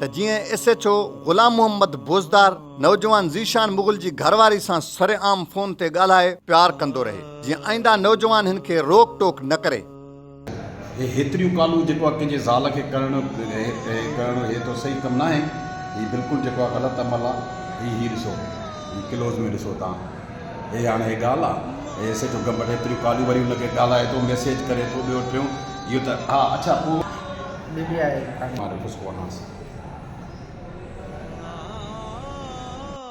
ته جيئن S H O Ghulam Muhammad Bozdar نوجوان ذيشان مغل جي گهر واري سان سر عام فون تي ڳالهائي پيار ڪندو رهي جيئن آئنده نوجوان هن کي روڪ ٽوڪ نه ڪري. هي هيتريون ڪالون جيڪو آ ڪنهن جي زال کي ڪرڻ ڪرڻ هي ته صحيح ڪم ناهي هي بلڪل جيڪو آ غلط عمل آ هي هي ڏسو هي ڪلوز ۾ ڏسو توهان. هي هاڻي هي ڳالهه آ. هي ايس ايڇ او گمبٽ ايتريون ڪاليون وري ان کي ڳالهائي ٿو ميسيج ڪري ٿو ٻيو ٽيون اهو ته ها اڇا پوء. ڏني آهي ڪهاڻي. مان رفيس ڪو آهانس.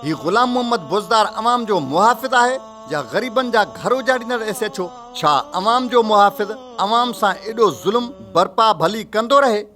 هي غلام محمد بوزدار عوام جو محافظ آهي يا غريبن جا گهر اجاڙيندڙ ايس ايڇ او؟ ڇا عوام جو محافظ عوام سان ايڏو ظلم برپا ڀلي ڪندو رهي؟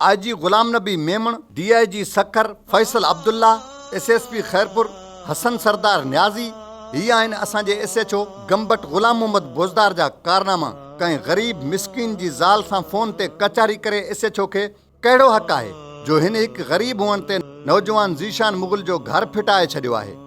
آء جي Ghulam Nabi Memon, D I G Sukkur Faisal Abdullah, S S P Khairpur Hassan Sardar Niazi, هي آهن اسان جي S H O Gambat Ghulam Muhammad Bozdar جا ڪارناما، ڪنهن غريب مسڪين جي زال سان فون تي ڪچهري ڪري ايس ايڇ او کي ڪهڙو حق آهي جو هن هڪ غريب هئڻ تي نوجوان ذيشان مغل جو گهر ڦٽائي ڇڏيو آهي.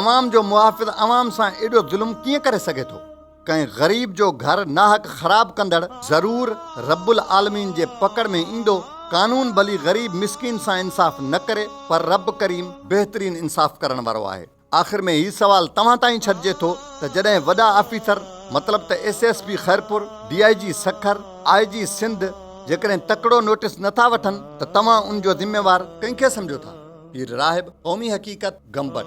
عوام جو محافظ عوام سان ايڏو ظلم ڪيئن ڪري سگهي ٿو؟ ڪنهن غريب جو گهر ناحق خراب ڪندڙ ضرور رب العالمين جي پڪڙ ۾ ايندو. قانون ڀلي غريب مسڪين سان انصاف نه ڪري پر رب ڪريم بهترين انصاف ڪرڻ وارو آهي. آخر ۾ هي سوال توهان تائين ڇڏجي ٿو ته جڏهن وڏا آفيسر مطلب ته S S P Khairpur, D I G Sukkur, I G Sindh, جيڪڏهن تڪڙو نوٽس نه ٿا وٺن ته توهان ان جو ذميوار ڪنهن کي سمجهو ٿا؟ پير راهب، قومي حقيقت، گمبٽ.